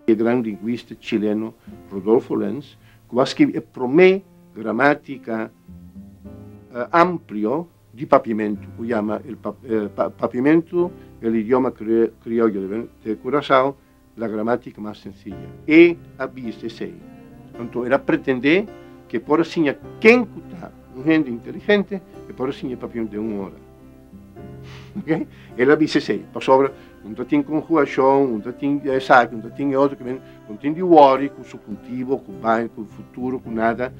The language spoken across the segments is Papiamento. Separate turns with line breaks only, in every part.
E gran linguista chileno Rodolfo Lenz, cu a scribi e prome gramatica amplio di papiamento, cu yama El Papiamento del Idioma Criollo de Curaçao, La gramática mas sencilla. E a bisa esei. Anto el a pretendé ke por a siña ken ku ta un hende inteligente, e por a siña papion den un ora. Ok? El a bisa esei. Pasobra un ta tin konhugashon, un ta tin e esaki, un ta tin e otro ke men, un tin di wòri ku su kultivo, ku baño, ku futuro, ku nada.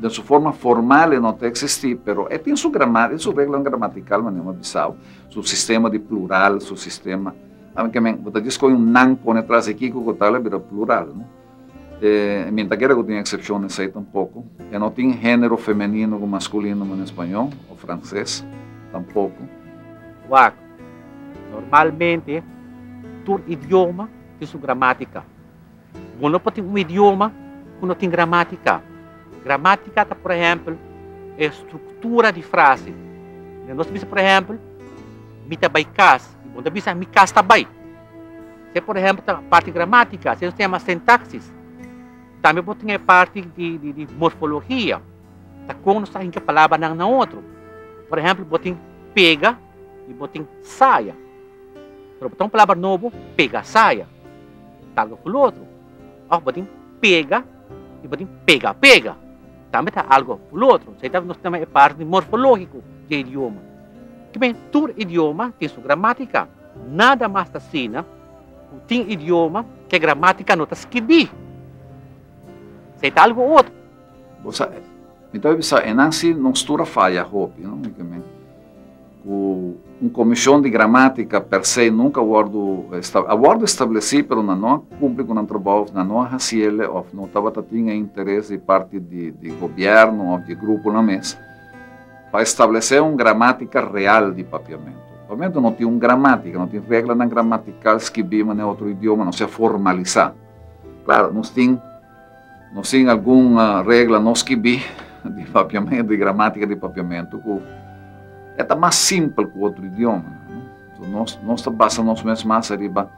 Den su forma formal e no ta eksistí, pero e tin su gramática, su reglanan gramatikal, manera mi a bisau, su sistema di plural, su sistema. Amen ke men, bo ta diskohe un nan pone tras e kiko ku ta la bira plural, no? E mi ta kere ku tin eksepshones ei tampoko. E no tin género femenino ku maskulino na spañó òf franses, tampoko. Wak, Normalmente tur idioma tin su gramátika. Bo no por tin un idioma ku no tin gramátika. Gramátika ta, por ehèmpel, e struktura di frase. Nos bisa, por ehèmpel, Mi ta bai kas. Y bon ta bisa, mi cas ta bay. Sey por ehemplo ta parti gramatica, sey nos ta yama sintaxis. Tambe bo tin e parti di morfologia, ta con nos ta hinca palabranan na otro. Por ehemplo, bo tin pega y bo tin saya. Pero bo ta un palabra nobo, pegasaya. Ta algo cu lo otro. Of bo tin pega. i bo tin pega pega, tambe ta algo fu lotro. Esei ta nos nama e parti di morfológiko di e idioma. Kibe? Tur idioma tin su gramátika. Nada mas ta asina ku tin idioma ku e gramátika no ta skirbí. Esei ta algo otro. Bo sa, mi ta bisa e nan si nos tur a faya hopi, no? Kibe? Ku un komishon di gramátika per se nunka wòrdu esta, a wòrdu establesí pero nan no a kumpli ku nan trabou, nan no a hasi el'e òf no tabata tin e interes di parti di di gobièrnu òf di gruponan mes pa establesé un gramátika real di Papiamentu. Papiamentu no tin un gramátika, no tin reglanan gramatikal skibí manera otro idioma, no sea formalisá. Klaru, nos tin. Nos tin algun regla no skibí di papiamentu, di gramátika di papiamentu ku e ta mas simpel ku otro idioma. Nos, nos ta basa nos mes mas ariba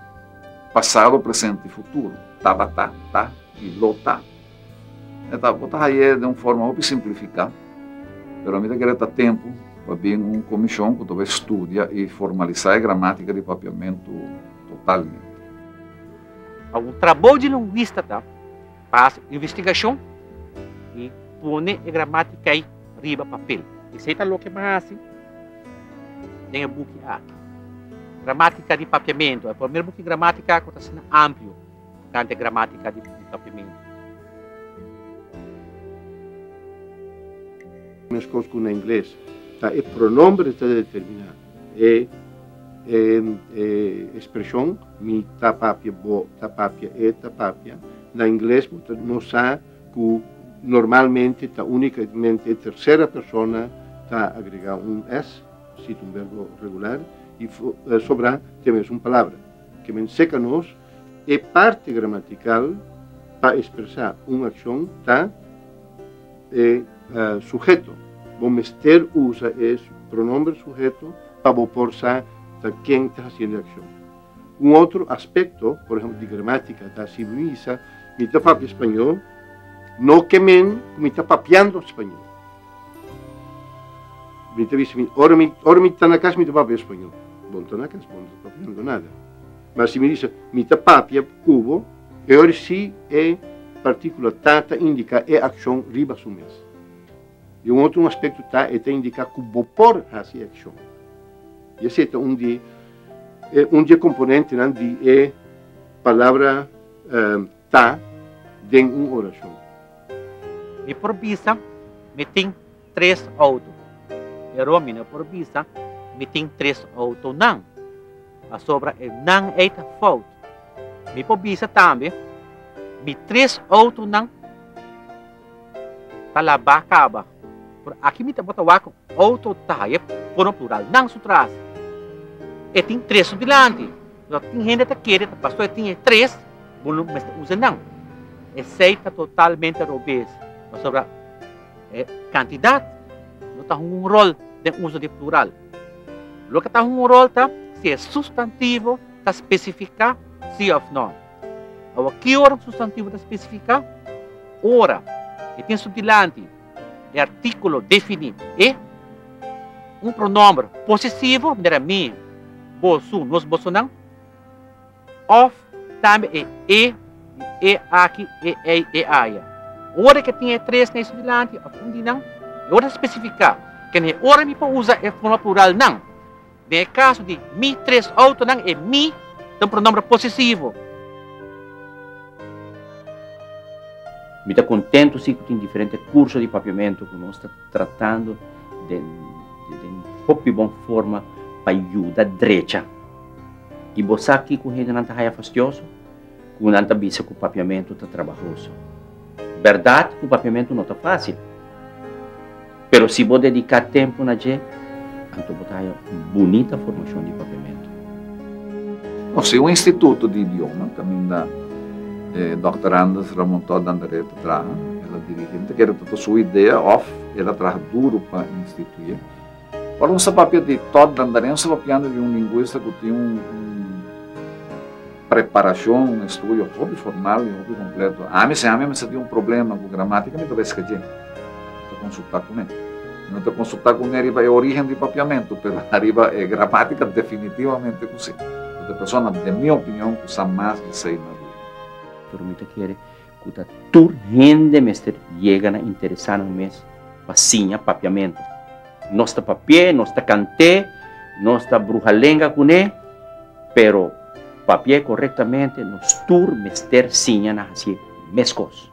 pasado, presente i futuro. Tabata, ta i lo ta. E ta, bo ta haya e den un forma hopi simplifiká, pero mi ta kere ta tempu pa bin un komishon ku ta bai studia i formalisá e gramátika di papiamentu totalmente. Awa un trabou di lingüista ta pa hasi un investigashon i pone e gramátika ei riba papel. Esei ta loke bo a hasi den e buki aki, Gramátika di Papiamentu. E promé buki gramátika ku ta asina amplio kanta e gramátika di papiamentu. Meskos ku na ingles, ta e pronomber e ta determiná. E espresion mi ta papia, bo ta papia, e ta papia, na ingles bo ta no sa cu normalmente ta unicamente e tercera persona ta agrega un s, si ta un verbo regular, y sobra te mes un palabra. Ke men seca nos. E parti gramatikal pa ekspresá un akshon ta e suheto. Bo mester usa e pronòmber suheto pa bo por sa ta ken ta hasiendo e akshon. Un otro aspekto, por ehèmpel, di gramátika ta si mi bisa, Mi ta papia spañó, no ke men ku mi ta papiando spañó. Mi ta bisa, Ora mi ta na kas mi ta papia spañó. Bo no ta na kas, bo no ta papiando nada. Ma si mi disa, Mi ta papia ku bo, e ora si e partíkula ta ta indiká e akshon riba su mes. I un otro aspekto ta e ta indiká ku bo por hasi e akshon. I esei ta un di e un di e komponentenan di e palabra ta den un orashon. Mi por bisa, Mi tin, tres outo. Pero mi no por bisa mi tin tres outonan, pasobra enan ei ta fout. Mi por bisa tambe mi tres outonan ta labá kaba, pero aki mi ta bota wak outo taye kono pluralnan su trase. E tin tres su dilanti, pero tin hende ta kere ta pastor e tin e tres, bo no mester usa nan. Esei ta totalmente robes, pasobra. E kantidat no ta hunga un ròl den uso di plural. Loke ta hunga un ròl ta si e sustantivo ta spesifiká sí òf nò. Awa, ki ora un sustantivo ta spesifiká? Ora e tin su dilanti e artíkulo definí, e, un pronòmber posesivo, manera mi, bo, su, nos bosonan. Òf tambe e e di e aki, e ei, e aya. Ora ke tin e tres na e su dilanti òf un di nan, e ora ta spesifiká ke na e ora mi por usa e forma plural nan. Den e kaso di mi tres outonan, e mi ta un pronòmber posesivo. Mi ta kontentu si ku tin diferente kurso di papiamentu ku nos ta tratando den un hopi bon forma pa yuda drecha. I bo sa kiko hendenan ta haya fastioso? Ku nan ta bisa ku papiamentu ta trabahoso. Bèrdat ku papiamentu no ta fásil, pero si bo dediká tempu na dje, anto bo ta haya un bunita formashon di papiamentu. Nos tin un instituto di idioma kaminda e Dòkter Anders Ramontot de Andrade ta traha. El a dirigí. Mi ta kere ta ta su idea òf el a traha duru pa instituy'é. Ora nos a papia di tòt Dandarian nos a papiando di un lingwista ku tin un preparashon, un estudio hopi formal i hopi kompleto. Ami si ami a mester tin un problema ku gramátika mi ta bai skadj'é, mi ta konsultá kuné. Mi no ta konsultá kuné riba e orígen di papiamentu, pero ariba e gramátika definitivamente ku sí. Unda persona, den mi opinion, ku sa mas di seis mas riba. Pero mi ta kere. ku ta tur hende mester yega na interesá nan mes pa siña papiamentu. Nos ta papi'é, nos ta kant'é, nos ta bruha lenga kuné, pero papi'é korektamente nos tur mester siña na hasié meskos.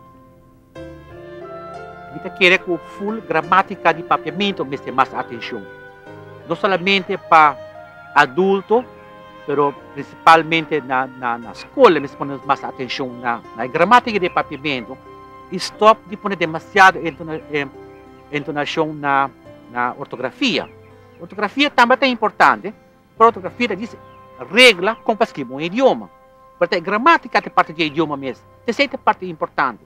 Mi ta kere ku ful gramátika di papiamentu mester mas atenshon, no solamente pa adulto, pero prinsipalmente na na na skola mester pone nos mas atenshon na na e gramátika di e papiamentu i stòp di pone demasiado entona e entonashon na na ortografia. Ortografia tambe ta importante, pero ortografia ta dise regla kon pa skibi un idioma. Pero ta e gramátika ta e parti di e idioma mes, esei ta e parti importante.